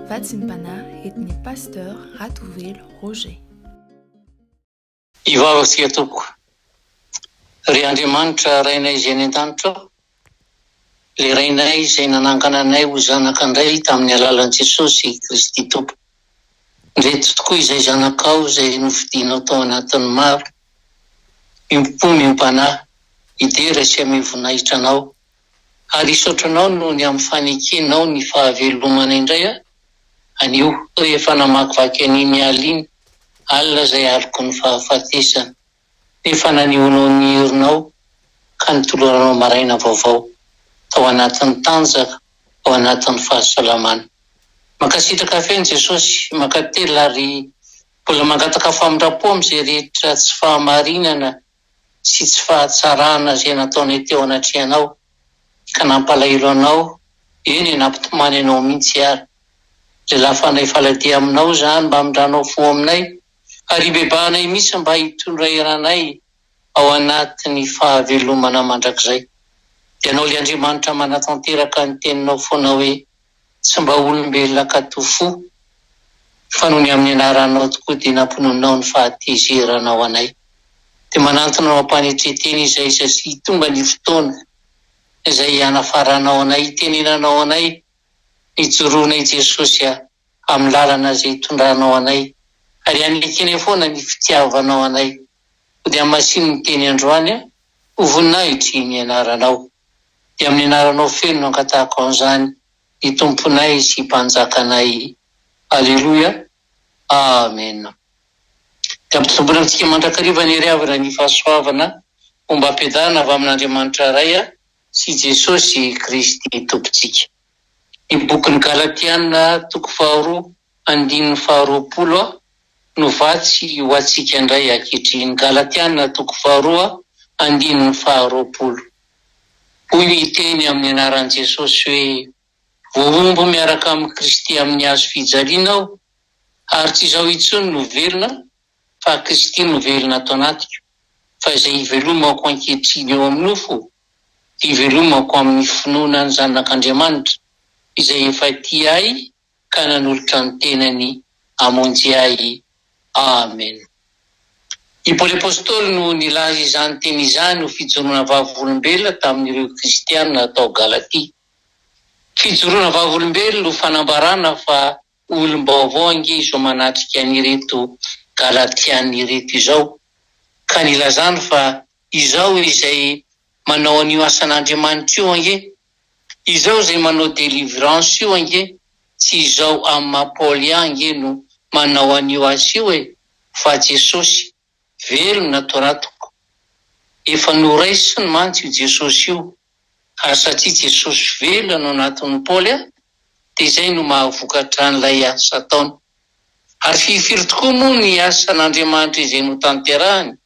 Vatsimpanahy etin'ny Pasteur Ratovelo Roger. Hivavaka isika tompoko. Ry Andriamanitra Rainay izay any an-danitra ao, ilay Rainay izay nanangana anay ho zanaka indray tamin'ny alalan'i Jesosy Kristy Tompo. Ndreto tokoa izay zanakao izay nofidinao tao anatin'ny maro. Miompom-po, miompanahy, hidera sy hameo voninahitra anao. ary hisaotra anao noho ny amin'ny fanekenao ny fahavelomana indray aho anio rehefa namakivaky an'iny alina iny, alina izay aloky ny fahafatesana, nefa nanehoanao ny herinao ka nitoloranao maraina vaovao tao anatin'ny tanjaka, ao anatin'ny fahasalamana. Mankasitraka feno Jesosy, mankatelina ary mbola mangataka famindram-po amin'izay rehetra tsy fahamarinana sy tsy fahatsarana izay nataonay teo anatrehanao ka nampalahelo anao, eny nampitomany anao mihitsy ary. Lehilahy fanahy faladia aminao izany mba hamindranao fo aminay ary hibebahanay mihitsy mba hitondra eranay ao anatin'ny fahavelomana mandrakizay. Ianao ilay Andriamanitra manatanteraka ny teninao foana hoe Tsy mba olombelona katoa fo, fa noho ny amin'ny anaranao tokoa dia nampononinao ny fahatezeranao anay. Dia manantona anao am-panetren-tena izay izay sy hitonga ny fotoana izay hianafaranao anay, hitenenanao anay ny joroanay i Jesosy a, amin'ny lalana izay hitondranao anay, ary hanekenay foana ny fitiavanao anay. Ho dia hamasin'ny teny androany a, ho voninahitry ny anaranao. Dia amin'ny anaranao feno no angatahako an'izany ny Tomponay sy Mpanjakanay. Aleloia. Amena. Dia ampitomboina amintsika mandrakariva ny hery avy raha ny fahasoavana homba ampiadanana avy amin'Andriamanitra Ray sy Jesosy Kristy Tompontsika. Ny bokin'ny Galatiana toko faharoa Andininy faharoapolo a no vatsy ho antsika indray ankehitriny, Galatiana toko faharoa andininy faharoapolo. Hoy ny teny amin'ny anaran'i Jesosy hoe, Voahombo miaraka amin'i Kristy amin'ny hazo fijaliana aho, ary tsy izaho intsony no velona, fa Kristy no velona ato anatiko. Fa izay ivelomako ankehitriny eo amin'ny nofo, dia ivelomako amin'ny finoana ny Zanak'Andriamanitra, izay efa tia ahy ka nanolotra ny tenany hamonjy ahy. Amen. I Paoly Apostoly no nilaza izany teny izany ho fijoroana vavolombelona tamin'ireo Kristiana tao Galatia. Fijoroana vavolombelona ho fanambarana fa olom-baovao ange izao manatrika an'ireto Galatiana ireto izao, ka nilazany fa izao izay manao an'io asan'Andriamanitra io ange Izao zay manao delivrance io ange tsy izao am maha Paul ihany ange no manao an'io asa io e fa Jesosy, velona to ra toko. Efa noraisiny mantsy io Jesosy io ary satria Jesosy velona no natin'i Paul a de izay no mahavokatra an'ilay asa ataony. Ary firy firy tokoa moa ny asan'Andriamanitra izay notanterahany?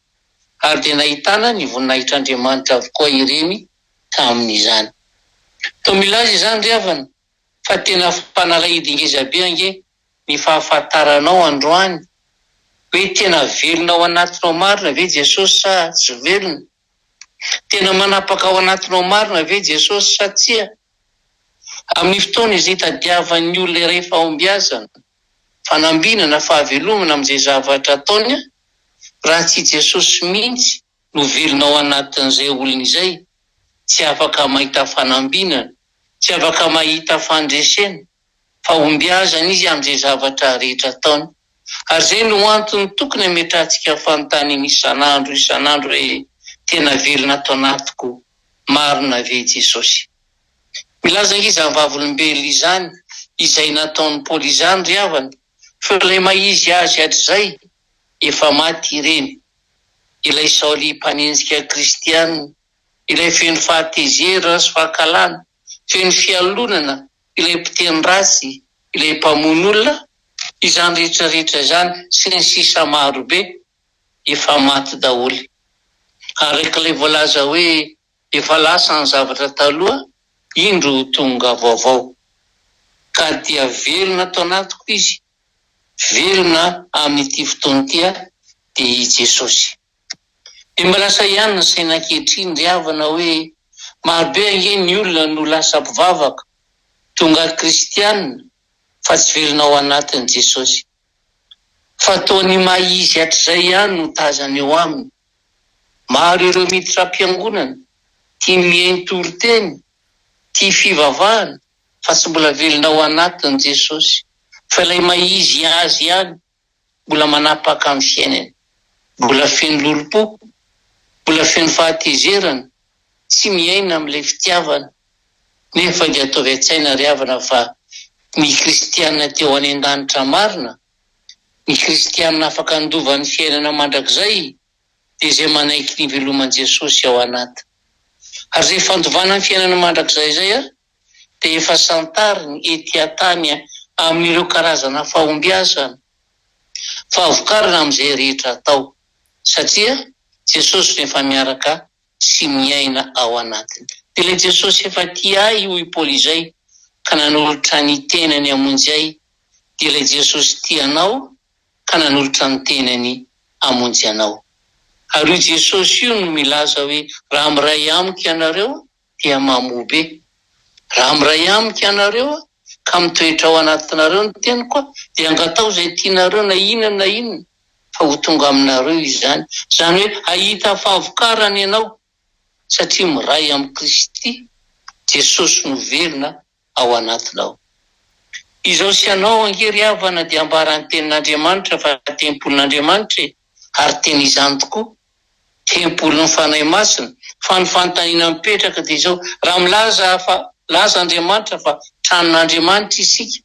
ary dia nahitana ny voninahitr'Andriamanitra avokoa ireny tamin'izany. Toa milaza izany ry havana fa tena fanalahidi ngeza be ange ny fahafantaranao androany hoe tena velona ao anatinao marina ve Jesosy sa tsy velona? Tena manapaka ao anatinao marina ve Jesosy sa tsia? Amin'ny fotoana izay itadiavan'ny olona iray fahombiazana, fanambina na fahavelomana amin'izay zavatra ataony raha tsy i Jesosy mihitsy no velona ao anatin'izay olona izay tsy afaka mahita fanambinana tsy afaka mahita fandresena fahombiazana izy amin'izay zavatra rehetra ataony ary izay no antony tokony hametrahantsika fanontaniana isan'andro isan'andro hoe tena velona ato anatiko marina ve Jesosy Milaza izany vavolombelona izany izay nataon'ny Paoly izany ry havana fa ilay maha-izy azy hatrizay efa maty ireny, ilay Saoly mpanenjika kristiana, ilay feno fahatezerana sy fankahalana, feno fialonana, ilay mpiteny ratsy, ilay mpamono olona, izany rehetra rehetra izany sy ny sisa marobe efa maty daholo araka ilay voalaza hoe Efa lasa ny zavatra taloha, indro tonga vaovao. Ka dia velona ato anatiko Izy, velona amin'ity fotoana ity aho, dia i Jesosy. Dia mba lasa ihany ny saina ankehitriny ry havana hoe marobe ange ny olona no lasa mpivavaka, tonga kristiana, fa tsy velona ao anatin'i Jesosy. fa toa ny maha izy hatrizay ihany no tazana eo aminy. Maro ireo miditra am-piangonana, tia mihaino toriteny, tia fivavahana fa tsy mbola velona ao anatiny Jesosy, fa ilay maha izy azy ihany mbola manapaka ny fiainany, mbola feno lolompo, mbola feno fahatezerana, tsy miaina amin'ilay fitiavana nefa nge ataovy an-tsaina ry havana fa ny kristiana te ho any an-danitra marina, ny kristiana afaka handova ny fiainana mandrakizay dia izay manaiky ny hiveloman'i Jesosy ao anat. Ary izay fandovana ny fiainana mandrakizay izay ary dia efa santariny ety an-tany amin'ireo karazana fahombiazana, fahavokarana amin'izay rehetra atao satria Jesosy no efa miaraka sy miaina ao anatiny. Dia ilay Jesosy efa tia ahy hoy i Paoly izay ka nanolotra ny tenany hamonjy ahy, dia ilay Jesosy tia anao ka nanolotra ny tenany hamonjy anao. Ary io Jesosy io no milaza hoe raha miray amiko ianareo dia mamobe. Raha miray amiko ianareo ka mitoetra ao anatinareo ny teniko dia angatao izay tianareo na inona na inona fa ho tonga aminareo izany. Izany hoe hahita fahavokarana ianao satria miray amin'i Kristy Jesosy no velona. ao anatinao. Izao sy ianao ange ry havana dia ambara ny tenin'Andriamanitra fa tempolin'Andriamanitra e, ary tena izany tokoa, tempolin'ny Fanahy Masina, fa ny fanontaniana mipetraka dia izao, raha milaza fa laza Andriamanitra fa tranon'Andriamanitra isika,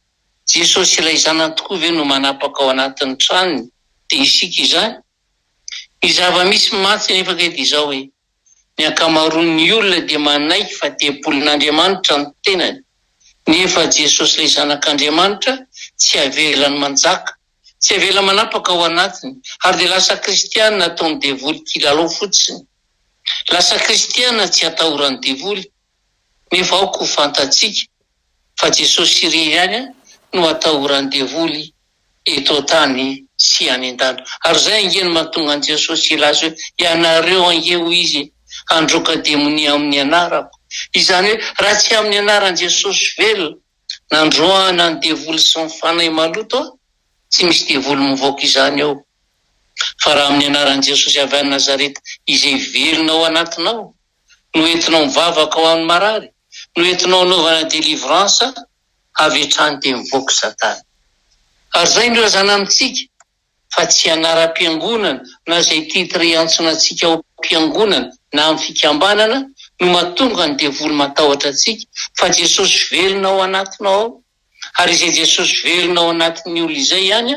Jesosy ilay Zanany tokoa ve no manapaka ao anatin'ny tranony dia isika izany? Ny zava-misy mantsy nefa ange dia izao e, Ny ankamaroan'ny olona dia manaiky fa devolin'Andriamanitra ny tenany, nefa Jesosy ilay Zanak'Andriamanitra tsy avelany manjaka, tsy avelany manapaka ao anatiny, ary dia lasa kristiana ataon'ny devoly kilalao fotsiny. Lasa kristiana tsy atahoran'ny devoly. nefa aoka ho fantatsika fa Jesosy irery ihany no atahoran'ny devoly eto an-tany sy any an-danitra. Ary izay ange no mahatonga an'i Jesosy hilaza hoe, Ianareo ange, hoy Izy, handroaka demonia amin'ny anarako. Izany hoe, raha tsy amin'ny anaran'i Jesosy velona nandroahana ny devoly sy ny fanahy maloto, tsy misy devoly mivoaka izany ao. Fa raha amin'ny anaran'i Jesosy avy any Nazareta izay velona ao anatinao, no entinao mivavaka ho amin'ny marary no entinao anaovana delivrance avy hatrany dia mivoaka satana ary zay ny razana amintsika fa tsy anaram-piangonana na zay titre iantson antsika ao am-piangonana na amin'ny fikambanana no matonga ny devoly matahotra antsika fa Jesosy velona ao anatinao ao ary izay Jesosy velona ao anatin'ny olona izay ihany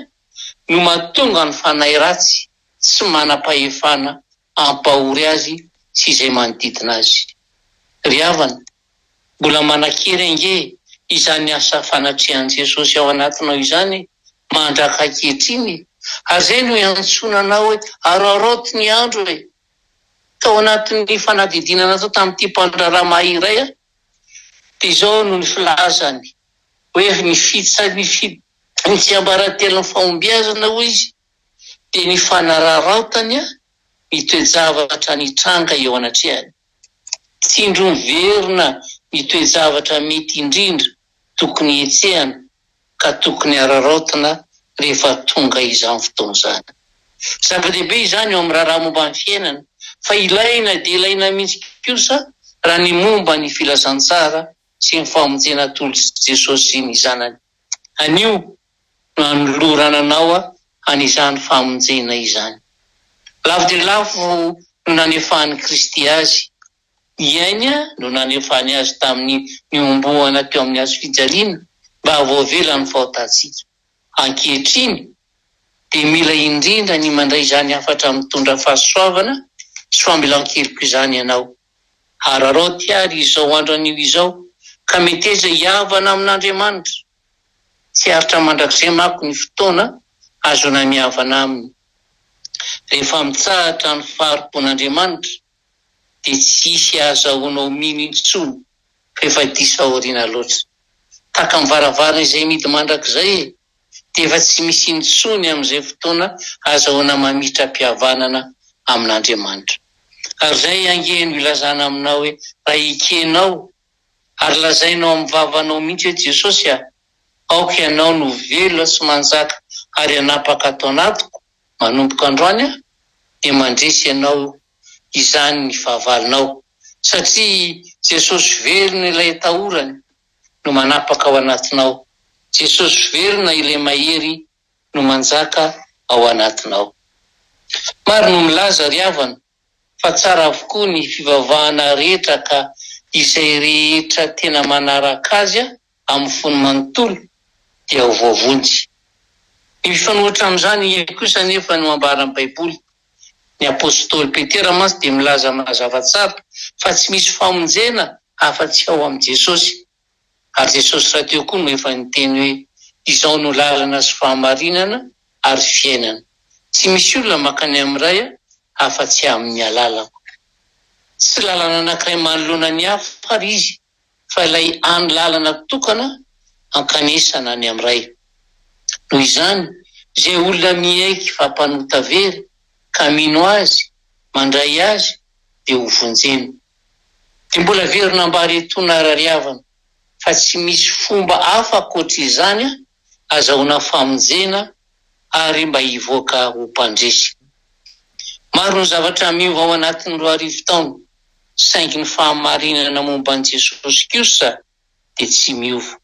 no matonga ny fanahy ratsy tsy manam-pahefana hampahory azy sy izay manodidina azy. Ry havana, mbola manan-kery ange izany asa fanatrehan'i Jesosy ao anatinao izany mandraka ankehitriny e! Ary izay no iantsoana anao hoe, Araoraoty ny andro e! Tao anatin'ny fanadihadiana natao tamin'ity mpandraharaha mahay iray aho, dia izao no filazany hoe, Ny tsiambaratelon'ny fahombiazana, hoy izy, dia ny fanararaotany ny toe-javatra nitranga eo anatrehany. Tsindro miverina ny toe-javatra mety indrindra tokony hetsehana ka tokony hararaotina rehefa tonga izany fotoana izany. Zava-dehibe izany eo amin'ny raharaha momba ny fiainana fa ilaina dia ilaina mihitsy kosa raha ny momba ny filazantsara sy ny famonjena atolotr'i Jesosy sy ny Zanany. Anio nanolorana anao an' izany famonjena izany. Lavo dia lavo no nanefahan' i Kristy azy, i Ainy no nanefany azy tamin' ny niombohana teo amin' ny hazo fijaliana mba havoavela ny fahotantsika. Ankehitriny dia mila indrindra ny mandray izany hafatra mitondra fahasoavana sy famelan-keloka izany ianao. Araraoty àry izao andron' io izao ka meteza hihavana amin' Andriamanitra. Tsy aritra mandrakizay manko ny fotoana hahazoana mihavana Aminy. Rehefa mitsahatra ny fahari-pon'Andriamanitra, dia tsy hisy hahazahoanao mino intsony fa efa diso aoriana loatra. Tahaka ny varavarana izay mihidy mandrakizay e! Dia efa tsy misy intsony amin'izay fotoana hahazahoana mamitra-pihavanana amin'Andriamanitra. Ary izay ange no ilazana aminao hoe raha ekenao Ary lazainao amin'ny vavanao mihitsy hoe Jesosy a, aoka ianao no ho velona sy manjaka ary hanapaka ato anatiko, manomboka androany aho dia mandresy ianao izany ny fahavalonao, satria Jesosy velona ilay atahorany no manapaka ao anatinao, Jesosy velona ilay mahery no manjaka ao anatinao. Maro no milaza ry havana fa tsara avokoa ny fivavahana rehetra ka izay rehetra tena manaraka azy amin'ny fony manontolo dia ho voavonjy. Ny mifanohitra amin'izany ihany kosa anefa no ambaran'ny Baiboly. Ny apostoly Petera mantsy dia milaza mazava tsara fa tsy misy famonjena afa-tsy ao amin'i Jesosy. Ary Jesosy rahateo koa no efa niteny hoe, Izao no lalana sy fahamarinana ary fiainana, tsy misy olona mankany amin'ny Ray afa-tsy amin'ny alalako. Tsy lalana anankiray manoloana ny hafa àry izy, fa ilay hany lalana tokana hankanesana any amin'ny Ray. Noho izany, izay olona miaiky fa mpanota very, ka mino Azy, mandray Azy, dia hovonjena. Dia mbola averina ambara eto na rariavana fa tsy misy fomba hafa ankoatra izany an, azahoana famonjena ary mba hivoaka ho mpandresy. Maro ny zavatra miova ao anatin'ny roa arivo taona saingy ny fahamarinana momba an'i Jesosy kosa dia tsy miova.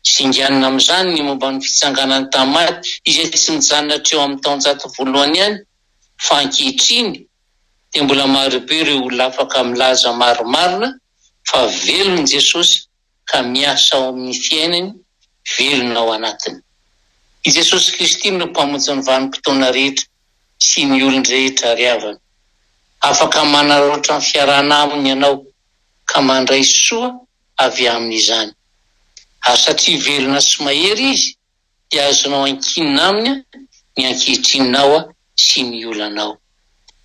Singanina amin'izany ny momba ny fitsanganan'i Tamary, izay tsy nijanona hatreo amin'ny taonjato voalohany ihany, fa ankehitriny dia mbola marobe ireo olona afaka milaza marimarina fa velona i Jesosy ka miasa ao amin'ny fiainany, velona ao anatiny. I Jesosy Kristy no Mpamonjin'ny vanim-potoana rehetra sy ny olon-drehetra ry havana. Afaka manararaotra ny fiarahana Aminy ianao ka mandray soa avy aminy izany. Ary satria velona sy mahery izy dia azonao ankinina aminy ny ankehitrinao sy ny olanao.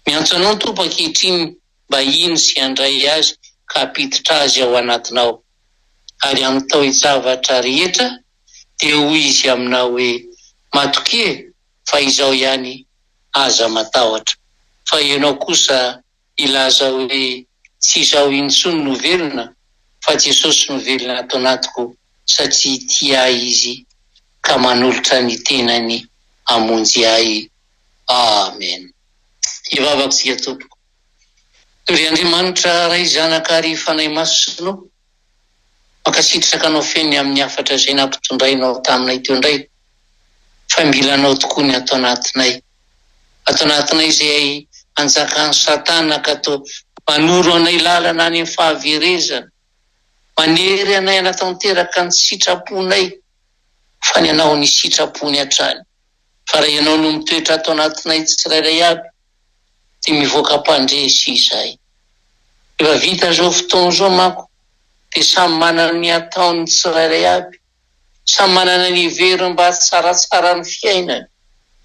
Miantso anao ny Tompo ankehitriny mba hino sy handray azy ka hampiditra azy ao anatinao. Ary amin'ny taojavatra rehetra dia hoy izy aminao hoe, Matokia fa izao ihany, aza matahotra, fa ianao kosa hilaza hoe tsy izaho intsony no velona fa Jesosy no velona ato anatiko satria tia ahy Izy ka manolotra ny tenany hamonjy ahy. Amen. Hivavaka isika tompoko. Tory Andriamanitra Ray Zanaka Ary Fanahy Masina o. Mankasitraka anao feno amin ny hafatra izay nampitondrainao taminay teo indray fa mila anao tokoa ny ato anatinay ato anatinay izay anjakan satana ka toa manoro anay lalana any amin fahaverezana manery anay hanatanteraka ny sitraponay fa ny anao ny sitrapony hatrany fa raha ianao no mitoetra ato anatinay tsirairay aby de mivoaka mpandresy izay. Efa vita zao fotoana zao manko de samy manana ny ataony ny tsirairay aby, samy manana ny heveriny mba hahatsaratsara ny fiainany,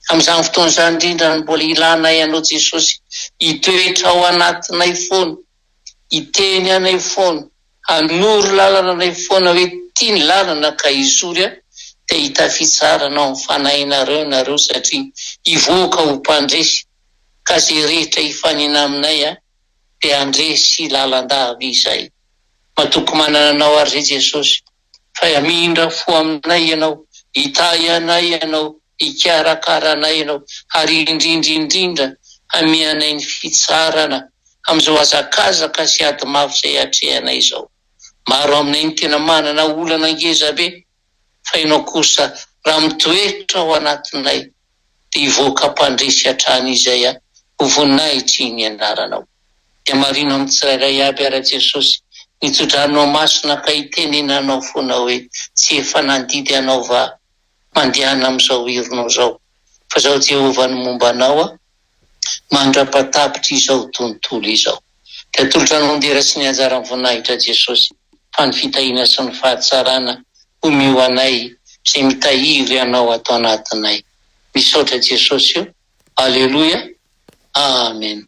amin'izany fotoana izany indrindra no mbola ilanay anao Jesosy hitoetra ao anatinay foana. hiteny anay foana, hanoro lalana anay foana hoe ity ny lalana ka hizory aho dia hitafitsarana ao amin'ny fanahinareo ianareo satria hivoaka ho mpandresy ka izay rehetra hifanena aminay a dia handresy lalandava izahay. Matoky manana anao ary re Jesosy. fa hamindra fo aminay Ianao, hitahy anay Ianao, hikarakara anay Ianao, ary indrindra indrindra hamia anay ny fitsarana amin'izao hazakazaka sy ady mafy izay atrehanay izao. Maro aminay no tena manana olana ngezabe, fa Ianao kosa raha mitoetra ao anatinay, dia hivoaka mpandresy hatrany izay a! ho voninahitry ny anaranao. Dia marino amin'ny tsirairay aby ara Jesosy ny tso-dranonao masina ka hitenenanao foana hoe tsy efa nandidy anao va mandehana amin'izao ironao izao fa zao Jehovah no momba anao a! mandrapa-tapitra izao tontolo izao. Dia atolotra ny ondera sy ny anjaran'ny voninahitra Jesosy fa ny fitahiana sy ny fahatsarana homeo anay izay mitahiry Anao ato anatinay. Misaotra Jesosy o! Aleloia! Amen!